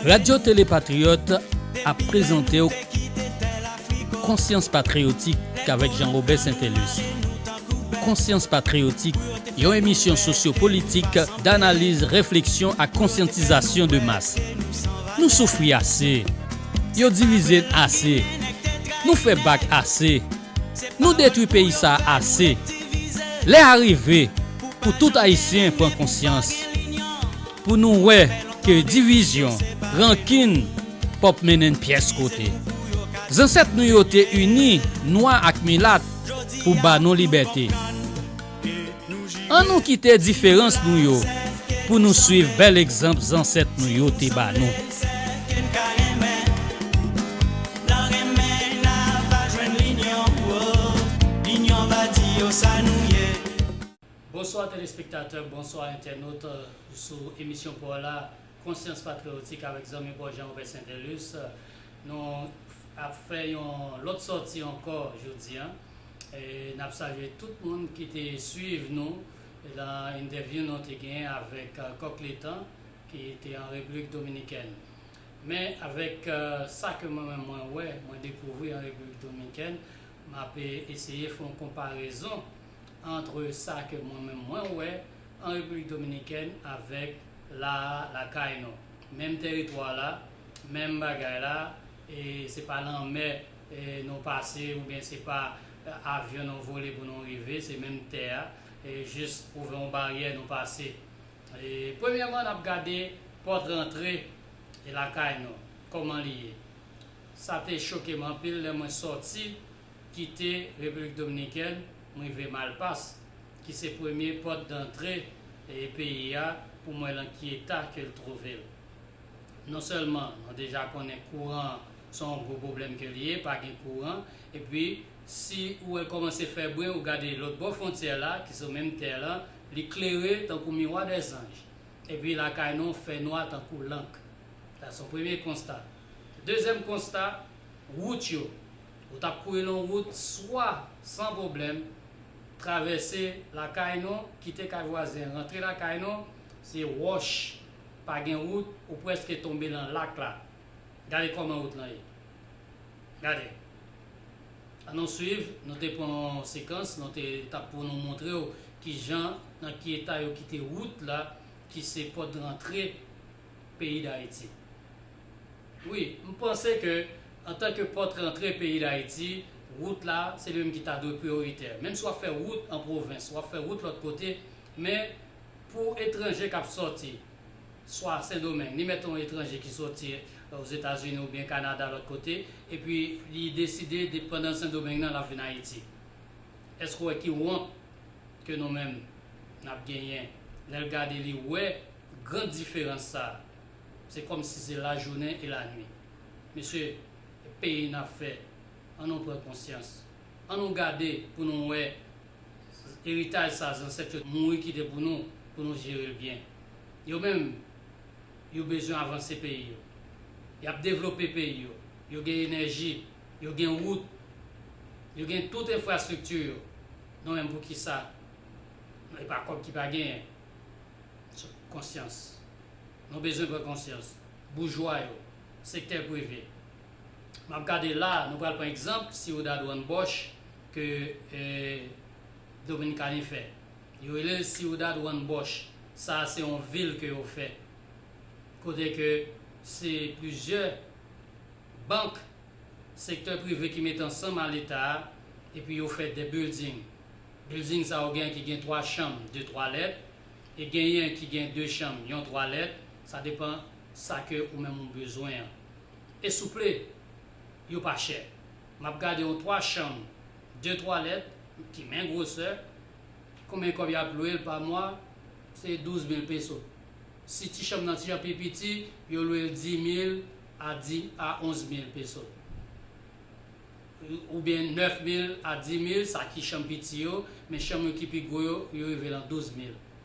Radyo Tele Patriyòt ap prezante w Konsyans Patriyotik avèk Jean Robert Saintelus. Konsyans Patriyotik, yon emisyon sosyo-politik, danaliz, refleksyon ak konsyantizasyon de mas. Nou soufri ase! Yo divize n ase! Nou fè bak ase! Nou detwi peyi sa ase. Lè a rive pou tout Ayisyen pran konsyans, pou nou wè ke divizyon, rankin pap mennen n pyès kote. Zansèt nou yo te ini nwa ak milat pou ba nou libète. An nou kite diferans nou yo pou nou swiv bèl egzanp zansèt nou yo te ba nou. Bonswa telespektatè, bonswa entènot sou emisyon paw la Konsyans Patriyotik avèk zanmi paw Jean Robert Saintelus. Nou ap fè yon lòt sòti ankò jodi an. N ap salye tout moun ki te swiv nou lan entèvyou nou te gen avèk Kòk Letan ki te an Repiblik Dominikèn. Men avèk sa ke mwen menm mwen wè, mwen dekouvri an Repiblik Dominikèn, m ap eseye fè yon konparezon antre sa ke mwen menm mwen wè an Repiblik Dominikèn avèk la a lakay nou. Menm tèritwa la, menm bagay la. Se pa lanmè nou pase oubyen se pa avyon nou vole pou nou rive, se menm tè a, jis twouve yon baryè nou pase. Premyèman n ap gade pòt rantre lakay nou, kòman li ye. Sa te choke m anpil lè mwen sòti kite Repiblik Dominikèn, m rive Malpas, ki se premye pòt dantre peyi a, pou m wè lan ki eta ke l twouve l. Non sèlman nou deja konnen kouran an se yon gwo pwoblèm ke li ye, pa gen kouran, epi si ou wè l kòmanse fè bri ou gade lòt bò fwontyè la ki sou menm tè lan, li klere tankou miwa dè zanj. Epi lakay nou fè nwa tankou lank. Sa se yon premye konsta. Dezyèm konsta, wout yo. Ou t ap kouri l on wout swa san pwoblèm, travèse lakay nou, kite kay vwazen, rantre lakay nou, se wòch. Pa gen wout ou preske tonbe lan lak la gade koman wout lan ye gade an nou swiv nou te pran yon sekans nou te tap pou nou moutrew kijan nan ki eta yo kite wout la ki se pot rantre peyi dayiti wi m panse ke an tan ke pot rantre peyi dayiti wout la se li menm ki ta dwe priyoritè menm si wap fè wout an pwovens wap fè wout lot kote men Pou etranje k ap sòti swa Sendomeng, ni mèt yon etranje ki sòti Ozetazini oubyen Kanada lòt kote, epi li deside de pandan Sendomeng nan l ap vin Ayiti. Èske w wè ki wont ke nou menm n ap genyen lè l gade li wè gran diferans sa a? Se kòmsi se lajounen e lanui. Mesye, peyi n ap fè, an nou pran konsyans. An nou gade pou nou wè Eritaj sa zansèt yo mouri kite pou nou, pou nou jere l byen. Yo menm, yo bezwen avanse peyi yo. Y ap devlope peyi yo. Yo gen enèji, yo gen wout, yo gen tout enfrastrikti yo. Nou menm pou kisa? E pa kòb ki pa genyen. Konsyans. Nou bezwen pran konsyans. Boujwa yo, sektè prive, Map gade la nou pral pran egzanp Ciudad Juan Bosch ke Dominikani fè. Yo rele l Ciudad Juan Bosch. Sa se yon vil ke yo fè. Kote ke se plizyè bank, sektè prive ki mete ansanm a leta a epi yo fè de bilding. Bilding sa yo gen ki gen 3 chanm, 2 twalèt e genyen ki gen 2 chanm, yon twalèt. Sa depan sa ke ou menm ou bezwen an. e souple yo pa chè map gade yon 3 chanm 2 twalèt ki men gwosè konbyen kòb yap lwel pa mwa se 12 mil peso si ti chanm nan ti jan pi piti yo lwel 10 mil a 11 mil peso oubyen 9 mil a 10 mil sa ki chanm piti yo men chanm yo ki pi gwo yo yo rive lan 12 mil.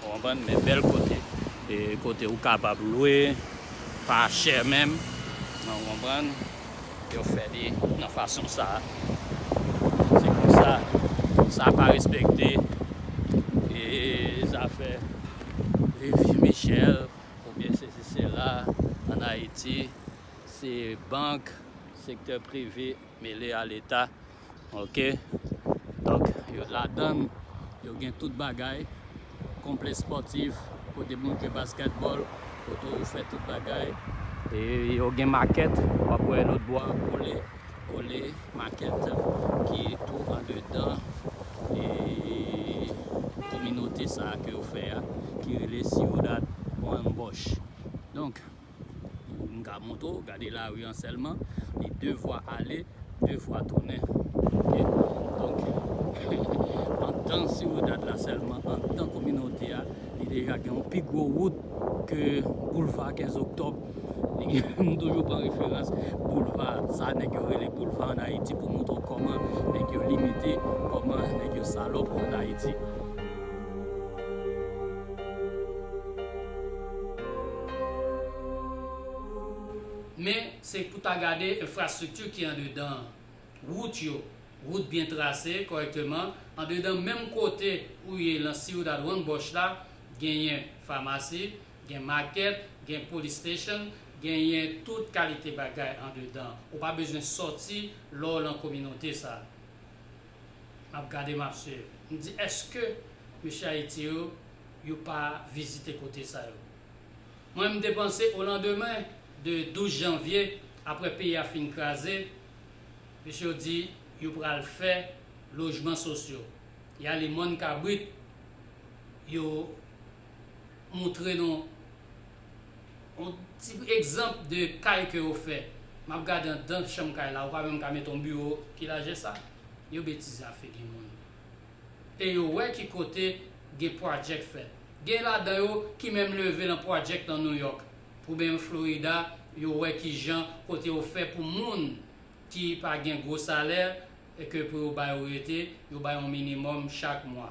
Ou konprann? Men bèl kote. E kote ou kapab lwe, pa chè menm. Ou konprann? Yo fè li nan fason sa a. Se konsa. Sa pa respekte e zafè Lévi Michel oubyen sesi sela an Ayiti. Se bank, sektè prive mele a leta. Ok donk yo ladann yo gen tout bagay konple spòtif kote moun jwe baskètbòl kote ou fè tout bagay e yo gen makèt wap wè lòt bò a kole kole makèt ki tou andedan e kominote sa ke yo fè a ki rele Ciudad Juan Bosch donk Pou m ka montre w, gade lari an sèlman, li 2 vwa ale, 2 vwa tounen. Donk, antan Ciudad la sèlman, antan kominote a, li deja gen yon pi gwo wout ke boulva 15 oktòb. M toujou pran referans boulva, sa nèg yo rele boulva an Ayiti pou montre w kòman nèg yo limite, kòman nèg yo salòp an Ayiti. Men, se pou ta gade enfrastrikti ki andedan an. Wout yo, wout byen trase kòrèkteman, andedan menm kote ou ye lan Ciudad Juan Bosch la, genyen famasi, gen makèt, gen police station, genyen tout kalite bagay andedan. Ou pa bezwen sòti lè w lan kominote sa. map gade map swiv m di eske mesye ayiti yo yo pa vizite kote sa yo mwen m te panse o landemen de 12 janvye aprè peyi a fin kraze mesye yo di yo pral fè lojman sosyo yale mòn kabrit yo moutre nou yon ti egzanp de kay ke yo fè map gade andan chanm kay la ou pa menm ka mete yon biwo ki lajè sa yo betize ap figi moun e yo wè ki kote gen project fèt gen ladan yo ki menm leve lan project lan Nouyòk pou benm Florida yo wè kijan kote yo fè pou moun ki pa gen gwo salè ke pou yo ba yo rete yo bay yon minimòm chak mwa.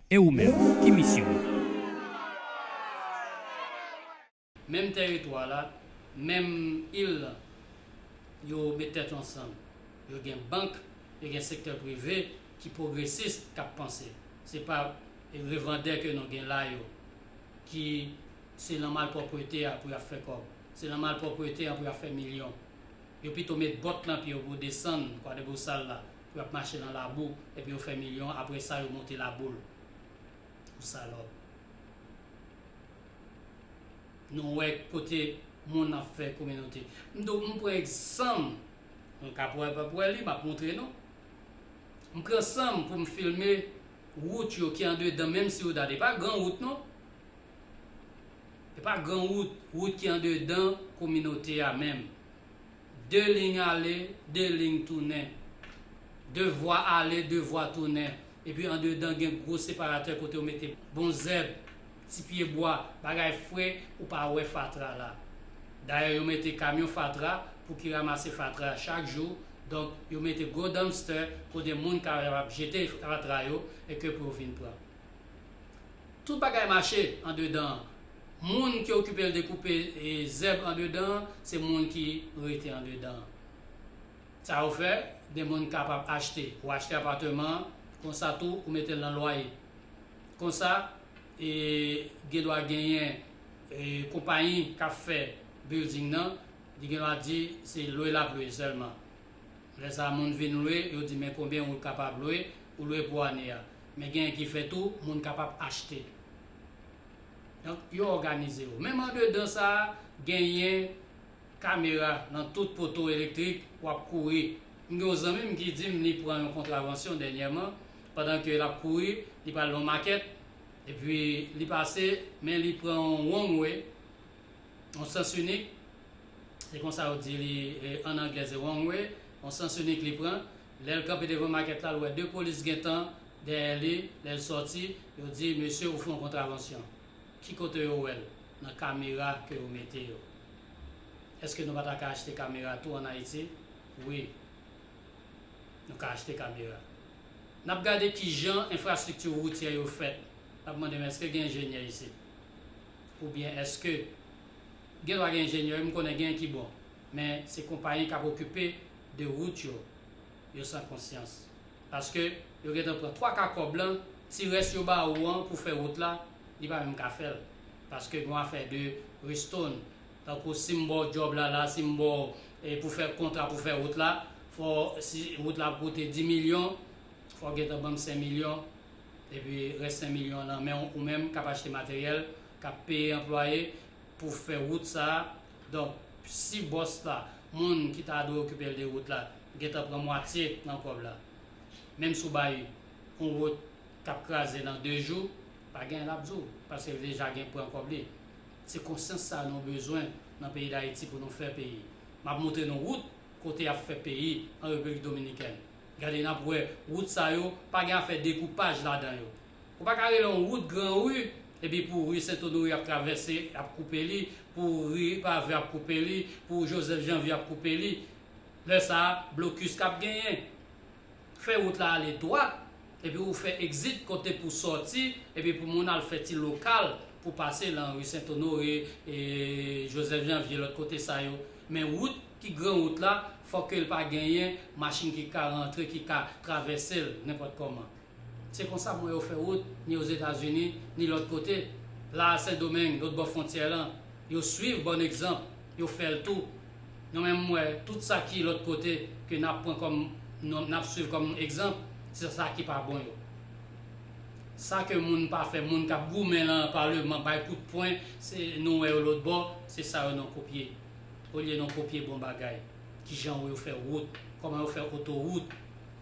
E ou menm, ki misyon ou? Menm tèritwa la, menm il la, yo met tèt yo ansanm. Yo gen bank, yo gen sektè prive ki pwogresis k ap panse. Se pa revandè ke nou gen la yo ki se lan malpwoprete a pou y ap fè kòb. Se lan malpwoprete an pou y ap fè milyon. Yo pito met bòt lan pye yo pou yo desann Kwadèbousal la. Yo ap mache nan labou epi yo fè milyon apre sa yo monte laboul pou salòp nou wè kote moun ap fè kominote m do m pran egzanm nou ka wè pap wè li map montre nou m pran sanm pou m filme wout yo ki andedan menm si ou dat e pa gran wout non e pa gran wout wout ki andedan kominote a menm. De lign ale, de lign tounen. De vwa ale, de vwa tounen. Epi andedan gen gwo separatè kote yo mete bon zèb, ti pye bwa, bagay fre ou pa wè fatra la. Dayè yo mete kamyon fatra pou ki ramase fatra a chak jou, donk yo mete gwo dumpster kote moun ka ap jete fatra yo e ke pou yo vin pran. Tout bagay mache andedan an. Moun ki okipe l dekoupe zèb andedan an se moun ki rete andedan an. Sa yo fè, gen moun k kapab achte. Ou achte apateman an, konsa tou ou mete l nan lwaye. Konsa, gendwa genyen konpayi k ap fè bilding nan, li gendwa di se lwe l ap lwe sèlman. Lè sa moun vin lwe, yo di men konbyen ou kapab lwe, ou lwe pou ane a. Men genyen ki fè tou, moun kapab achte. Donk, yo òganize yo. Menm andedan sa a, genyen kamera nan tout poto elektrik, w ap kouri. M gen yon zanmi m ki di m li pran yon kontravansyon dènyèman, pandan ke l ap kouri, li pral nan yon makèt, epi li pase, men li pran yon wrong way, yon sans inik, se konsa yo di li an anglè se wrong way, yon sans inik li pran, lè l kanpe devan makèt la l wè 2 polis gentan dèyè li, lè l sòti yo di mesye ou fè yon kontravansyon, ki kote yo wè l? Nan kamera ke yo mete yo. Eske nou pa ta ka achte kamera tou an Ayiti? Wi, nou ka achte kamera. N ap gade kijan enfrastrikti woutyè yo fèt, n ap mande men eske gen enjenyè isit? oubyen eske gen dwa gen enjenyè wi m konnen gen ki bon men se konpayi kap okipe de rout yo yo san konsyans paske yo gentan pran 3 ka kòb lan ti rès yo ba ou an pou fè rout la li pa menm ka fèl paske gon afè de ristoun tankou sim baw djòb la la sim baw pou fè kontra pou fè rout la fò si rout la ap koute 10 milyon fòw gentan banm 5 milyon Epi rès 5 milyon an nan men w ou menm k ap achte materyèl, k ap peye anplwaye pou fè wout sa a. Donk, si bòs la, moun ki ta dwe okipe l de wout la, gentan pran mwatye nan kòb la, menm si w bay yon wout k ap kraze nan de jou, pa gen anyen l ap di w, paske l deja gen pran kòb li. Se konsyans sa a nou bezwen nan peyi Dayiti pou nou fè peyi. M ap montre nou wout kote y ap fè peyi an Repiblik Dominikèn. Gade nap wè wout sa yo pa gen afè dekoupaj ladan yo. Ou pa ka rele yon wout gran ri epi pou ri Sentonori ap travèse ap koupe li, pou ri Pave ap koupe li, pou Joseph Janvier ap koupe li. Lè sa a blokis kap genyen. Fè wout la ale dwat epi ou fè exit kote pou sòti epi pou moun al fè ti lokal pou pase lan ri Sentonore, Joseph Janvier lòt kote sa yo. Men wout. Ki gran wout la, fò ke l pa genyen machin ki ka rantre, ki ka travèse l nenpòt kòman. Se konsa mwen yo fè wout, ni Ozetazini, ni lòt kote. La a Sendomeng, lòt bò fwontyè lan, yo swiv bòn egzanp, yo fè l tou. Non men m wè, tout sa ki lòt kote, ke n ap pran kòm, n ap swiv kòm egzanp, se sa ki pa bon yo. Sa ke moun pa fè, moun k ap goumen lan Paleman, bay kout pwen, se, nou wè yo lòt bò, se sa yo nan kopye. Olye nou kopye bon bagay, kijan ou yo fè wout, kòman yo fè otowout.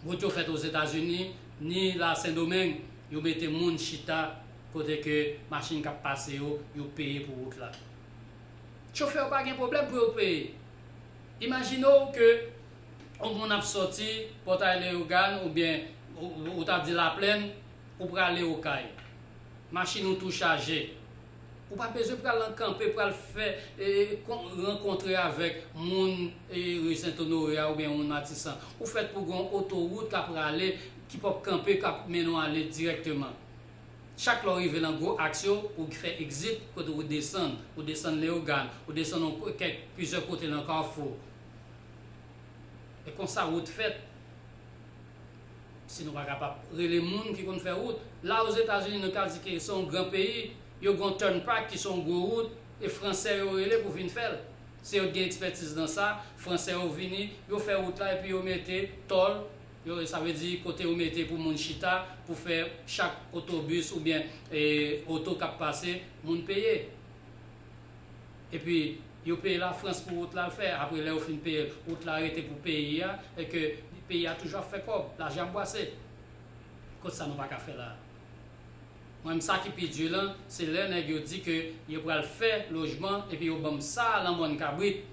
Wout yo fèt Ozetazini, ni la Sendomeng, yo mete moun chita kote ke machin kap pase yo, yo peye pou wout la. Chofè yo pa gen pwoblèm pou yo peye. Imajine w ke yon moun ap sòti Pòtay Leyogàn oubyen ou ta di Laplèn, ou prale Okay. Machin ou tou chaje, Ou pa bezwen pral nan kanpe pral fè rankontre avèk moun ri sentonore a oubyen moun matisan. Ou fèt pou gen yon otowout k ap rale ki p ap kanpe k ap mennen w ale dirèkteman. Chak lè w rive nan gwo aks yo, ou fè egzit kote ou desann. Ou desann Leyogàn, ou desann yon kèk plizyè kote nan Kafou. E konsa wout fèt. Si nou pa kapab rele moun ki konn fè wout, la Ozetazini nou ka di ke se yon gran peyi, yo gen yon turnpike ki se yon gwo wout, e fransè yo rele pou vin fè l. Se yo t gen ekspètiz nan sa, fransè yo vini, yo fè wout la epi yo mete tòl, yo sa vle di kote yo mete pou moun chita pou fè chak otobis oubyen oto k ap pase moun peye. Epi yo peye la France pou wout lal fè apre lè yo fin peyel wout la rete pou peyi a e ke peyi a toujou ap fè kòb lajan ap bwase kot sa nou paka fè la mwen m sa ki pi dur lan se lè nèg yo di ke yo pral fè lojman epi yo banm sa lan mòn kabrit.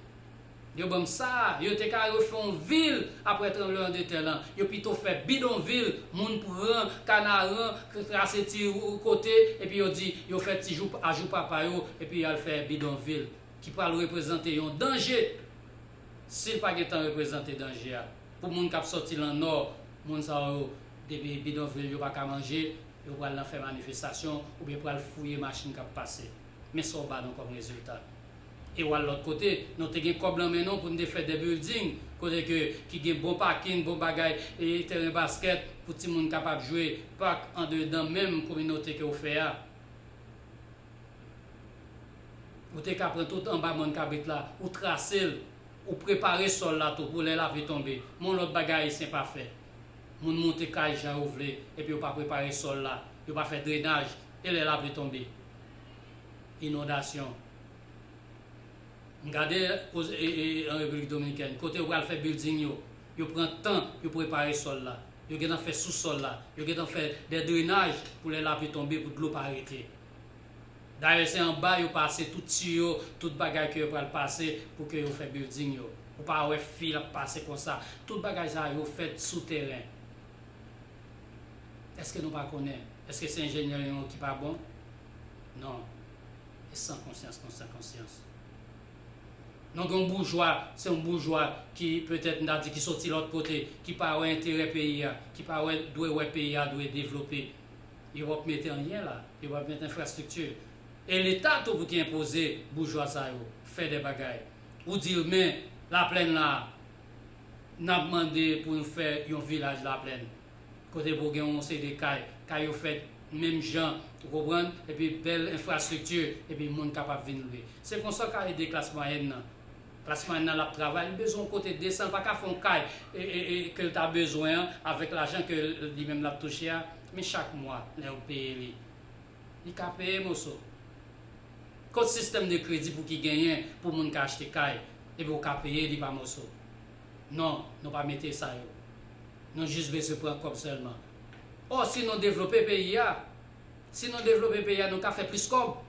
Yo banm sa, yo te ka refè yon vil aprè tranbleman de tè lan, yo pito fè bidonvil, moun pran kanaran, trase ti kote epi yo di yo fè ti jou a jou papa yo epi yal fè bidonvil ki pral reprezante yon danje sil pa gentan reprezante danje a pou moun kap sòti lan nò, moun sa yo depi bidonvil yo paka manje yo pral nan fè manifestasyon oubyen pral fouye machin kap pase men sa w ba nou kòm rezilta. E wal lot kote non te gen kob lan men non pou nou te fè de building kote ke ki gen bon pakin bon bagay e teren basket pou ti moun kapab jwe park andedan menm kominote ke ou fè a ou te ka pran tout anba mòn kabrit la ou trasel ou prepare sol la tou pou lè lapli tonbe men yon lot bagay ayisyen pa fè moun monte kay jan yo vle epi yo pa prepare sol la yo pa fè drenaj e lè lapli tonbe. inondasyon. M gade oz e e an Repiblik Dominikèn kote yo pral fè bilding yo, yo pran tan yo prepare sòl la, yo gentan fè sousòl la, yo gentan fè dè drenaj pou lè lapli tonbe pou dlo pa rete. Dayè se anba yo pase tout tiyo, tout bagay ke yo pral pase pou ke yo fè bilding yo. Ou pa wè fil ap pase konsa. Tout bagay sa yo fèt sou teren. Eske nou pa konnen? Eske se enjenyè nou yo ki pa bon? Non. E san konsyans nou san konsyans. Nou gen yon boujwa, se yon boujwa ki petèt m ta di ki soti lòt kote, ki pa wè enterè peyi a, ki pa wè dwe wè peyi a dwe devlope. Yo pap mete anyen la. Yo pap mete enfrastrikti. E leta tou pou ki enpoze boujwa sa yo fè de bagay. Ou di l men laplèn la. Nap mande pou nou fè yon vilaj laplèn kote pou gen yon seri de kay, kay yo fèt menm jan ou konprann epi bèl enfrastrikti epi moun kapab vin lwe. Se konsa w ka ede klas mwayèn nan. Klas mwayèn nan lap travay li bezwen yon kote desan l pa ka fè yon kay ke l ta bezwen an avèk lajan ke li menm lap touche a men chak mwa lè yo peye li li ka peye moso Kot sistèm de kredi pou ki genyen pou moun ka achte kay epi ou ka peye li pa moso? Non, nou pa mete sa yo. Nou jis bezwen pran kòb sèlman. Ò si nou devlope peyi a, si nou devlope peyi a nou ka fè plis kòb.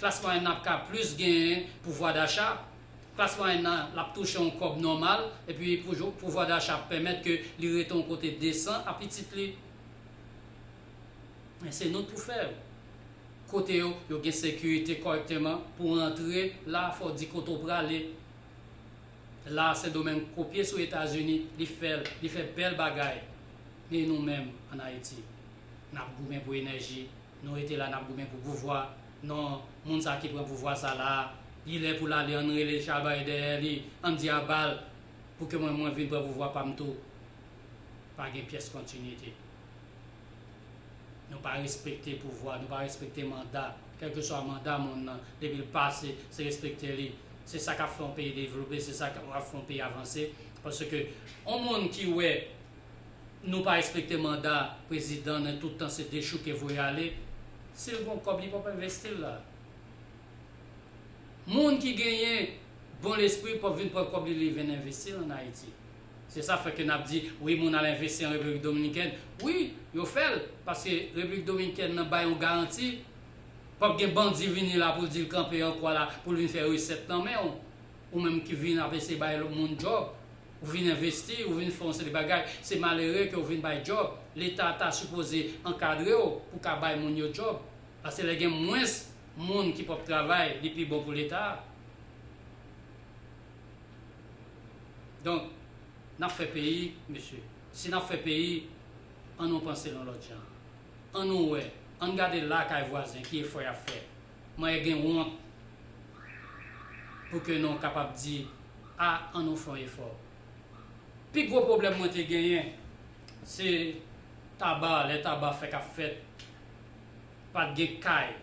Klas mwayèn nan ap ka plis genyen pouvwa dacha, klas mwayèn nan l ap touche yon kòb nòmal epi pouvwa dacha ap pèmèt ke li rete yon kote desan a pitit li. Men se nou k pou fè yo. kote yo yo gen sekirite kòrèkteman pou antre la fòw di kote w prale la sendomeng kopye sou etazini li fèl li fè bèl bagay men nou menm an ayiti nap goumen pou enèji nou rete la nap goumen pou pouvwa non moun sa ki pran pouvwa sa la li lè poul ale ann rele chabay dèyè li ann di abal pou ke mwen mwen vin pran pouvwa pam tou pa gen pyès kontinite. Nou pa respekte pouvwa, nou pa respekte manda. Kèlkeswa manda moun nan, depi l pase, se respekte li. Se sa k ap fè yon peyi devlope, se sa k ap fè yon peyi avanse. Paske yon moun ki wè nou pa respekte manda prezidan nan tout tan se dechouke voye ale, si l gon kòb li pap envesti l la. Moun ki genyen bon lespri pap vin pran kòb li li vin envesti l ann Ayiti. Se sa fè ke n ap di, wi moun al envesti an Repiblik Dominikèn. Wi, yo fè l, paske Repiblik Dominikèn nan bay yon garanti, p ap gen bandi vini la pou l di l kanpe an kwa la, pou l vin fè resèt nan men w. Ou menm ki vin ap eseye bay lòt moun djòb, ou vin envesti, ou vin fè yon seri bagay, se malere ke w vin bay djòb. Leta ta sipoze ankadre w pou w ka bay moun yo djòb. Paske lè gen mwens moun ki p ap travay, li pi bon pou Leta a. Donk, n ap fè peyi, mesye. Si n ap fè peyi, an nou panse l yon lòt jan. An nou wè, an n gade lakay vwazen ki efò y ap fè. Mwen e gen wont pou ke nou kapab di, a, an nou fè yon efò. Pi gwo pwoblèm mwen te genyen, se Taba, lè Taba fèk ap fèt, pa t gen kay,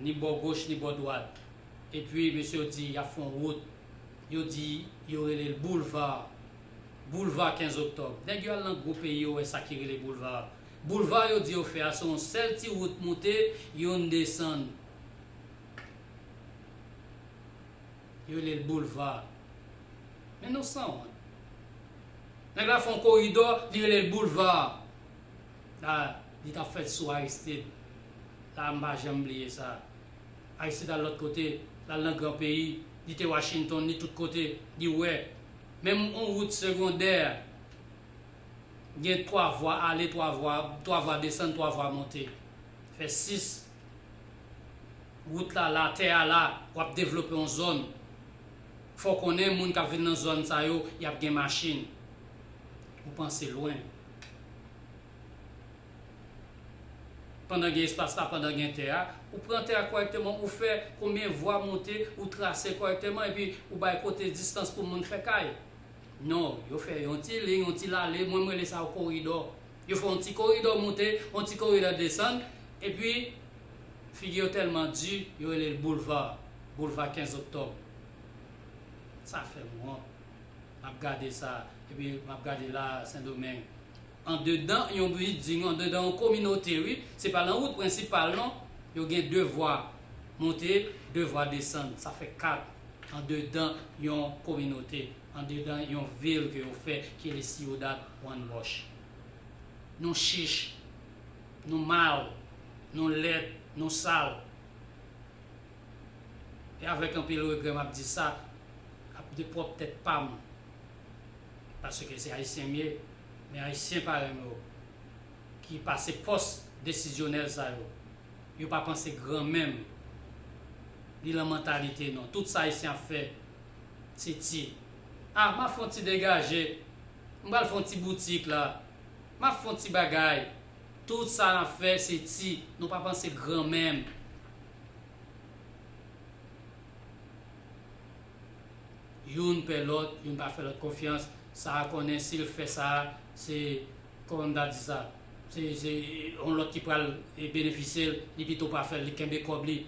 ni bò goch ni bò dwat, Epi mesye yo di y ap fè yon wout, yo di yo rele l boulva, boulva 15 oktòb. Nèg yo al nan gwo peyi yo wè sa ki rele boulva. Boulva yo di yo fè a se yon sèl ti wout moute, youn desann. Yo rele l boulva. Men nou sanwont. Nèg la fè yon koridò, li rele l boulva. La, li t ap fèt sou Aristide. La, m pa janm bliye sa. Aristide al lòt kote, l al nan gran peyi, li te Washington, li tout kote, li wè. Menm yon wout segondè gen twa vwa ale, twa vwa, twa vwa desann, twa vwa monte. Fè sis. Wout la la, tè a la, w ap devlope yon zòn. Fò w konnen moun k ap vin nan zòn sa yo, y ap gen machin. Ou panse lwen. Pandan gen espas la, pandan gen tè a, ou pran tè a kòrèkteman, ou fè konbyen vwa monte, ou trase kòrèkteman epi ou bay kote distans pou moun fè kay. Non, yo fè yon ti liy, yon ti lale, mwen m rele sa yon koridò. Yo fè yon ti koridò monte, yon ti koridò desann, epi figi yo tèlman di, yo rele l boulva, boulva 15 oktòb. Sa fè m wont. M ap gade sa, epi m ap gade la a, Sendomeng, Andedan yon bilding, andedan yon kominote wi, se pa lan wout prensipal non, yo gen 2 vwa monte, 2 vwa desann, sa fè 4 andedan yon kominote, andedan yon vil ke yo fè ki rele Ciudad Juan Bosch. Nou chich, nou mal, nou lèd, nou sal. E avèk anpil regrè m ap di sa, ap de pwòp tèt pa m. paske se ayisyen m ye men ayisyen parèy mwen yo ki pase pòs desizyonèl sa yo yo pa panse gran menm li lan mantalite non tout sa ayisyen ap fè se ti ah map fon ti degaje m pral fon ti boutik la map fon ti bagay tout sa nap fè se ti nou pa panse gran menm. Youn pè lòt, youn pa fè lòt konfyans, sa a konnen si l fè sa a, se kòmandadisa, se yon lòt ki pral benefisye l, li pito pa fè l, li kenbe kòb li.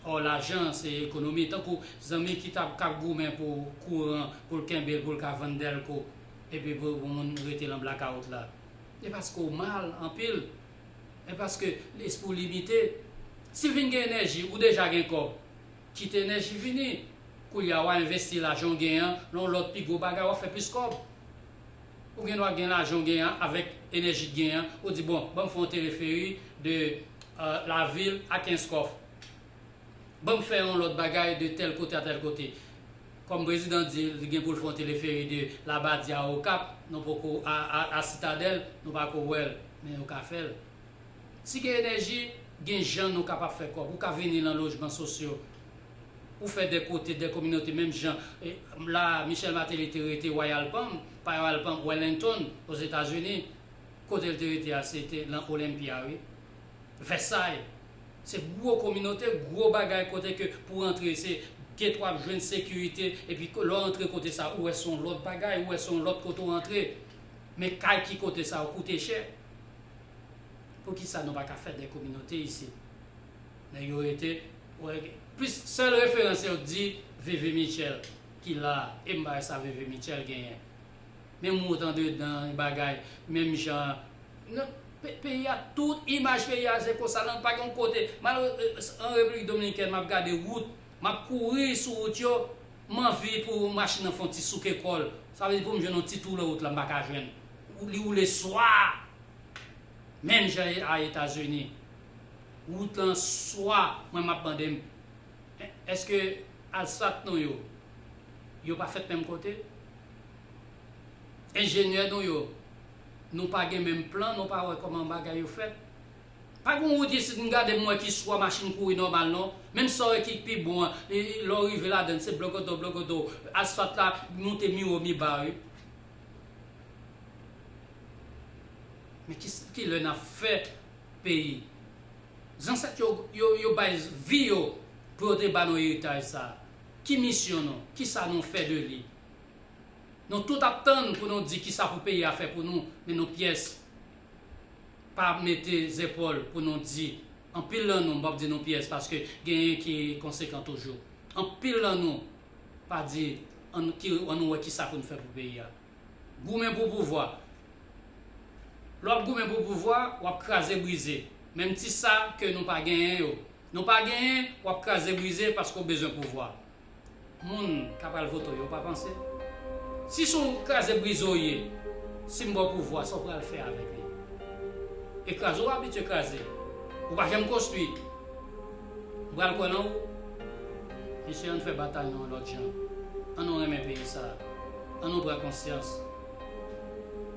Ò lajan an se ekonomi, tankou zanmi ki ta ka goumen pou kouran pou l kenbe l pou l ka vann dèlko epi pou yon moun rete lan blakawout la. E paske w mal anpil, e paske lespri w limite, si l vin gen enèji, ou deja gen kòb. Kite enèji vini. Koulye a wa envesti lajan w genyen an nan yon lòt pi gwo bagay wap fè plis kòb. Ou gen dwa gen lajan w genyen an avèk enèji k genyen an ou di bon banm fè yon teleferi de la vil a kenskòf. Banm fè yon lòt bagay de tèl kote a tèl kote. Kòm prezidan di li gen pou l fè yon teleferi de labadi a okap nou poko a sitadèl nou pako wèl men yo ka fèl. Si gen enèji, gen jan nou kapab fè kòb. Ou ka vini lan lojman sosyo pou fè de kote, de kominote menm jan la Michel Martelly te rete Royal Palm, pa Royal Palm, Wellington, Ozetazini. Kote l te rete a se te lan Olympia wi. Vèsay. Se gwo kominote, gwo bagay kote ke pou w antre se gate w ap jwenn, sekirite epi lè w antre kote sa ou wè se yon lòt bagay, ou wè se yon lòt kote w antre. Men kay ki kote sa yo koute chè. Poukisa nou pa ka fè 2 kominote isit men yo rete wèg plis sèl referans yo k di Veve Mitchell ki la e m bay sa Veve Mitchell genyen menm wot andedan e bagay menm jan nan peyi a tout imaj peyi a se konsa nan pa gen yon kote malere an Repiblik Dominikèn m ap gade wout m ap kouri sou wout yo m anvi pou machin nan fè yon ti souke kò l sa vle di pou m jwenn yon ti tou lè wout la m pa ka jwenn li woule swa. Menm jan e a etazini. Wout lan swa mwen map mande m eske alsat nou yo yo pa fèt menm kote? Enjenyè nou yo nou pa gen menm plan nou pa wè kòman bagay yo fèt? Pa gon wout isit m gade m wè ki swa machin kouri nòmal non. Menm sa w wè ki pi bon an lè w rive ladann se blogodo blogodo asfat la moute mi wo mi ba wi. Men kilè nap fè peyi. Zansèt yo yo bay vi yo pou yo te ba nou eritaj sa. Ki misyon nou? Kisa nou fè de li? Nou tout ap tann pou nou di kisa pou peyi a fè pou nou men nou pyès pa mete zepòl pou nou di anpil nan nou, m pap di nou pyès paske genyen ki konsekan toujou, anpil nan nou pa di an nou wè kisa pou nou fè pou peyi a. Goumen pou pouvwa Lè wap goumen pou pouvwa wap kraze brize menm ti sa ke nou pa genyen yo nou pa genyen wap kraze brize paske w bezwen pouvwa moun ka pral vote w yo pa panse si son kraze brize w ye si m ba w pouvwa sa w pral fè avèk li e kraze w abitye kraze ou pa janm konstwi. M pral kwè nan ou. Mesye ann fè batay nou yon lòt jan. An nou renmen peyi sa a. An nou pran konsyans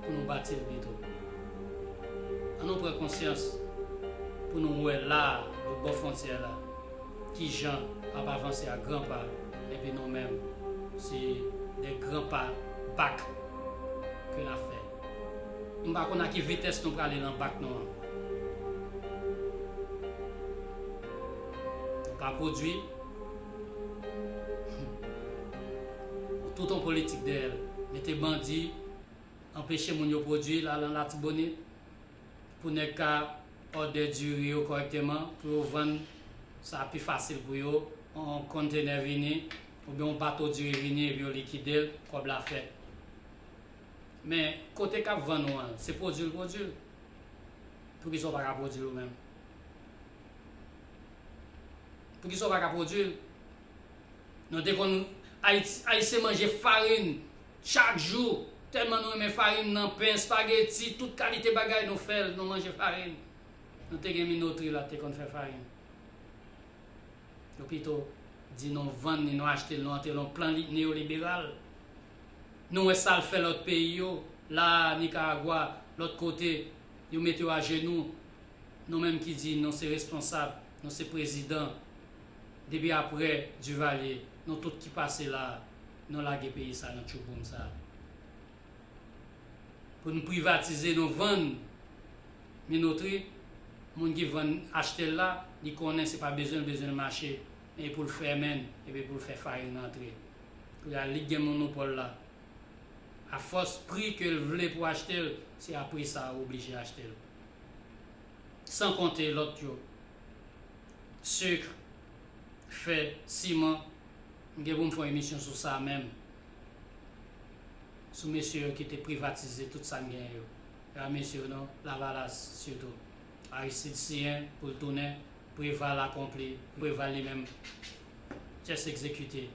pou nou bati l pito. An nou pran konsyans pou nou wè la a lòt bò fwontyè la ki jan ap avanse a gran pa epi nou menm se de gran pa bak ke n ap fè. M pa konn a ki vitès nou prale lan bak nou an. Nou pa pwodwi. Ou tout on politik dèyè l. Mete bandi, anpeche moun yo pwodwi la lan Latibonit pou nèg ka òdè diri yo kòrèkteman pou yo vann sa pi fasil pou yo. On konntenè vini oubyen on bato diri vini epi yo likide l, kòb la fèt. Men kote kap vann ou an se pwodwi l pwodwi l poukisa ou pa ka pwodwi l ou menm poukisa ou pa ka pwodwi l nou te konn ayisyen manje farin chak jou tèlman nou renmen farin nan pen espageti tout kalite bagay nou fè l nou manje farin nou te gen minotri la te konn fè farin nou pito di nou vann ni nou achte l nou antre l yon plan neyoliberal Nou wè sal fè lòt peyi yo la Nicaragua lòt kote yo mete yo ajenou nou menm ki di nou se responsab nou se prezidan depi aprè Duvalier nou tout ki pase la nou lage peyi sa nan tchouboum sa pou nou privatize nou vann minotri moun ki vann achtel la li konnen se pa bezwenl bezwenl mache men epoul fèmen epi poul fè farin rantre. la li k gen monopòl la a fòs pri ke l vle pou achte l se a pri sa ou oblije achte l san konte lòt yo sucre fè siman m gen pou m fè yon emisyon sou sa menm sou mesye yo ki te privatize tout sa n gen yo e pa mesye yo non lavalas sitou aristide siyen pou l tounen preval akonpli preval li menm Just execute.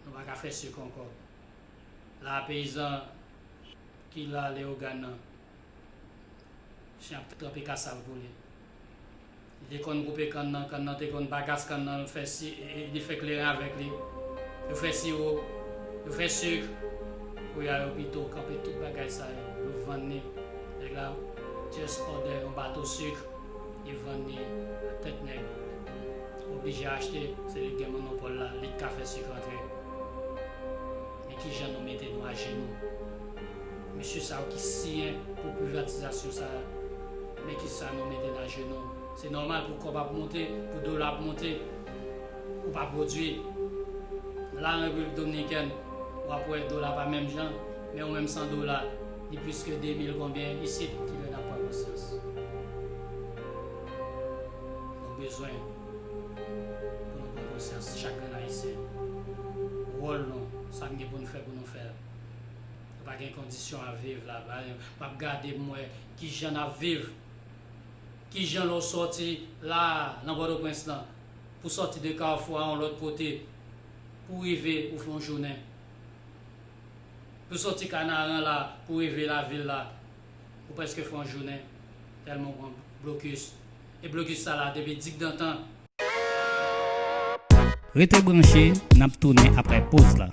Nou pa ka fè suk ankò. La a peyizan ki la Leogane nan. Chen ap tranpe kasav pou li. Li te konn koupe kann nan, kann nan te konn bagas kann nan l fè si li fè kleren avèk li. Yo fè siwo, yo fè suk. Koulye a yo pito kanpe tout bagay sa yo, yo vann li. Nèg la just òdè yon bato suk. li vann ni a tèt nèg ou oblije achte se li gen monopòl la lik ka fè sik rantre men kijan nou mete nou ajenou mesye sa yo ki siyen pou privatizasyon sa men kisa nou mete n ajenou se nòmal pou kòb ap monte pou dola ap monte ou pa pwodwi la an repiblik dominikèn wap wè dola pa menm jan. Men ou menm san dola li plis ke 2000 konbyen isit ki lè nap pran konsyans nou bezwen pou nou pran konsyans chak grenn ayisyen wòl nou sa n gen pou n fè pou nou fè l nou pa gen kondisyon a viv la map gade m wè kijan nap viv kijan lè w sòti la nan pòtoprens lan pou sòti de kafou a yon lòt kote pou rive ou fè yon jounen Ou soti Kanaran la pou rive lavil la, ou prèske fè yon jounen tèlman ou pran blokis. E blokis sa la depi dikdantan. Rete branche, n ap tounen aprè poz la.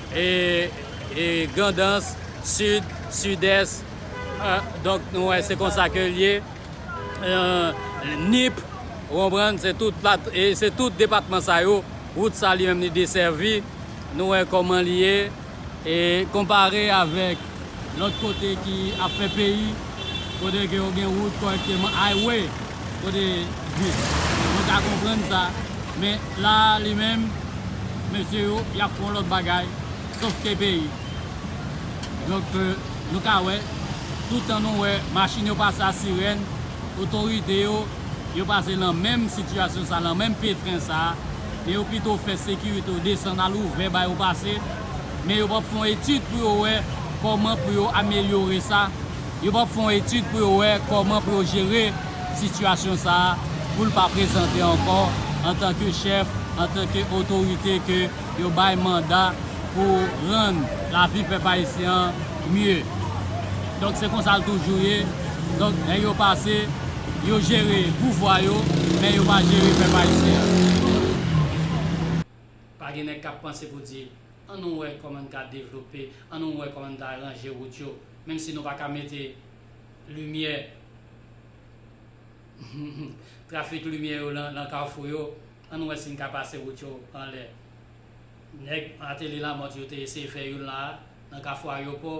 E Grandans, Sid, Sidès, donk nou wè se konsa ke l ye, Nip, ou konprann, se tout plat, e se tout depatman sa yo, wout sa li menm li desèvi, nou wè kòman li ye, e konpare avèk Lòt kote ki ap fè peyi, kote ke yo gen wout kòrèkteman, highway, kote bus, mwen ka konprann sa. Men la a li menm, mesye yo, y ap fè yon lòt bagay, sofke peyi. Donk, nou ka wè, tout tan nou wè machin yo pase a sirèn, otorite yo, yo pase lan menm sitiyasyon sa a, lan menm petren sa a, men yo pito fè sekirite yo desann al ouvè ba yo pase. men yo pap fon etid pou yo wè kòman pou yo amelyore sa, yo pap fon etid pou yo wè kòman pou yo jere sitiyasyon sa a pou l pa prezante ankò antanke chèf, antanke otorite ke yo bay manda pou rann lavi pèp ayisyen an mye. Donk se konsa l toujou ye, donk nèg yo pase, yo jere pouvwa yo, men yo pa jere pèp ayisyen an. Pa gen nèg k ap panse pou di, An nou wè kòman n ka devlope, an nou wè kòman n ta ranje wout yo, menm si nou pa ka mete limyè, trafik limyè yo nan kafou yo, an nou wè si n ka pase wout yo anlè. Nèg Martelly Lamothe yo te eseye fè youn la a, nan kafou ayopò.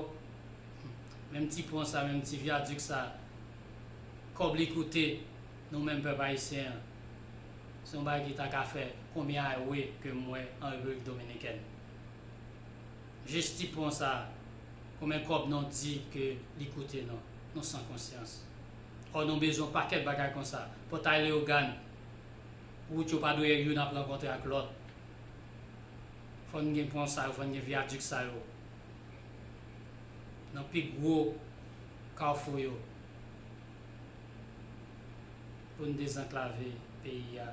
Menm ti pon sa, menm ti vyadik sa, kòb li koute. Nou menm pèp ayisyen an, se yon bagay ki ta ka fè konbyen awe ke m wè an Repiblik Dominikèn. Jis ti pon sa, konbyen kòb non di ke li koute non? Nou san konsyans. Ò nou bezwen yon pakèt bagay konsa. Pòtay Leyogàn, wout yo pa dwe youn ap rankontre ak lòt. Fò n gen pon sa yo, fò n gen vyadik sa yo nan pi gwo kawfou yo. pou n dezanklave peyi a,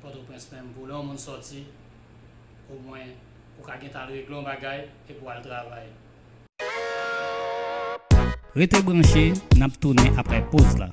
Pòtoprens menm pou lè yon moun sòti, omwen ou ka gentan al regle yon bagay epi w al travay. Rete branche, n ap tounen aprè poz la.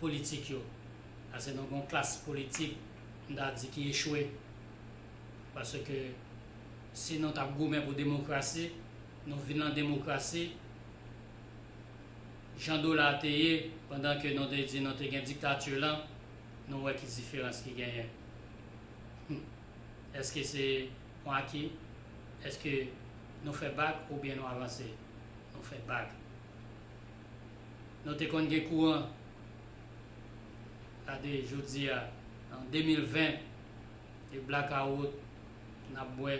politik yo, paske nou gen yon klas politik m ta di ki echwe, paske si nou t ap goumen pou demokrasi, nou vin lan demokrasi, jan dola a te ye pandan ke nou te di nou te gen diktati lan, nou wè ki diferans ki genyen. Hum. Eske se yon aki? Eske nou fè bak oubyen nou avanse? Nou fè bak. Nou te konn gen kouran gade jodi a an 2020 e blakawout n ap bwè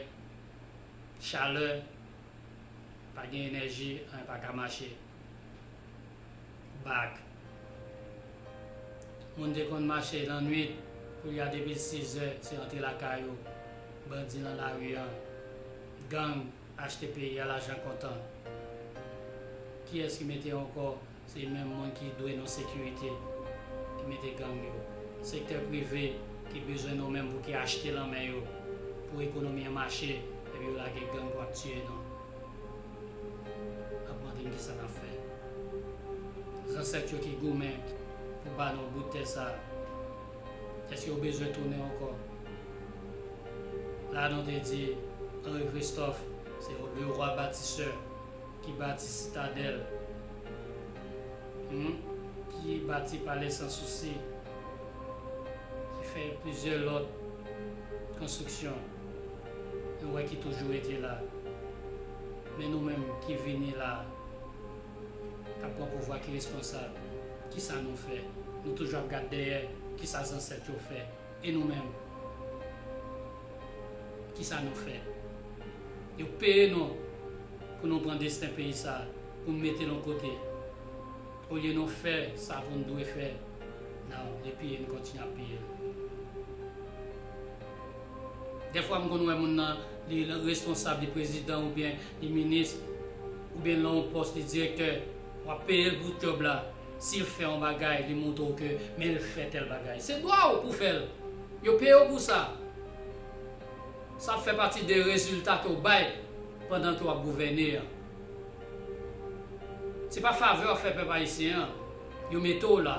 chalè pa gen enèji anyen pa ka mache bak moun te konn mache lannwit koulye a depi 6 zè se antre lakay ou bandi nan lari an gang Achte peyi a lajan kontan. Kiyès ki mete ankò se menm moun ki dwe nou sekirite ki mete gang yo. Sektè prive ki bezwen nou menm pou ki achte lan men yo pou ekonomi an mache epi yo lage gang pou ap tiye nou. Ap mande n kisa nap fè. Zansèt yo ki goumen pou ba nou bout tè sa. Eske ou bezwen tounen ankò la nou te di Henri Christophe se yon Leroi Bâtisseur ki bati Citadelle humm ki bati Palais Sans Souci ki fè plizyè lòt konstriksyon nou wè ki toujou rete la men nou menm ki vini la. kap pran pouvwa ki responsab kisa nou fè nou toujou ap gad dèyè kisa zansèt yo fè e nou menm kisa nou fè yo peye nou pou nou pran desten peyi sa pou nou metel yon kote olye nou fè sa poun dwe fè nan li piye nou kontinye ap piyel dèfwa m konn wè moun nan li responsab li prezidan oubyen Li ministre oubyen nan yon pòs li direktè wap peyel pou job la sil fè yon bagay li moutre w ke men l fè tèl bagay se dwa w pou fèl yo peye w pou sa sa fè pati de rezilta ke w bay pandan ke wap gouvène an se pa favè wap fè pèp ayisyen an yo mete w la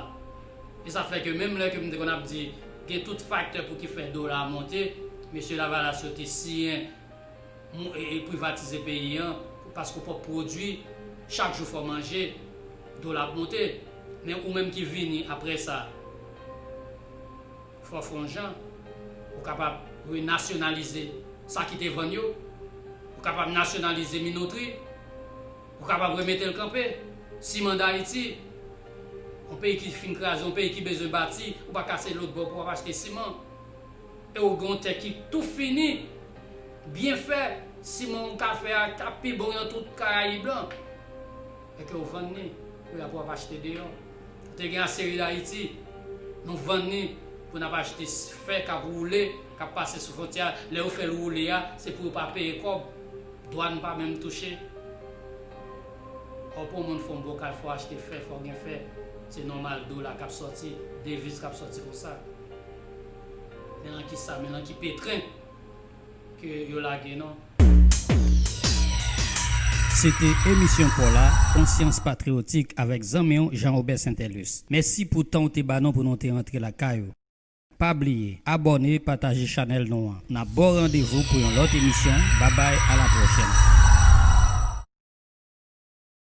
e sa fè ke menm lè ke m te konn ap di gen tout faktè pou ki fè dola a monte mesye lavalas yo te siyen privatize peyi an paske ou pap pwodwi chak jou fò manje dola ap monte men ou menm ki vini aprè sa fò fonjan ou kapab renasyonalize sa ki te vann yo ou kapab nasyonalize minotri ou kapab remete l kanpe siman dayiti yon peyi ki fin kraze yon peyi ki bezwen bati ou pa kase lotbò pou w ap achte siman. E ou gen yon tè ki tou fini. Byenfè siman ou ka fè a ta pi bon yon tout Karayib lan. E ke ou vann ni, pou ya pou ap achte deyò. Ou te gen Aseril Ayiti. Nou vann ni pou n ap achte fè k ap woule, k ap pase sou fwontyè a. Lè yo fè l woule a, se pou yo pa peye kòb. Dwàn pa menm touche. Ou pou yon moun fè yon bokal fò w achte fè, fò w gen fè. Se nòmal dola k ap sòti, deviz k ap sòti konsa. Men lan ki sa, men lan ki petrin ke yo lage nou. Se te emisyon paw la, konsyans patriyotik avèk zanmi w Jean Robert Saintelus. Mèsi pou tan w te ba nou pou nou te antre lakay ou. Pa bliye abòne, pataje chanèl nou an. N ap ba w randevou pou yon lòt emisyon. Babay, a la pwochèn.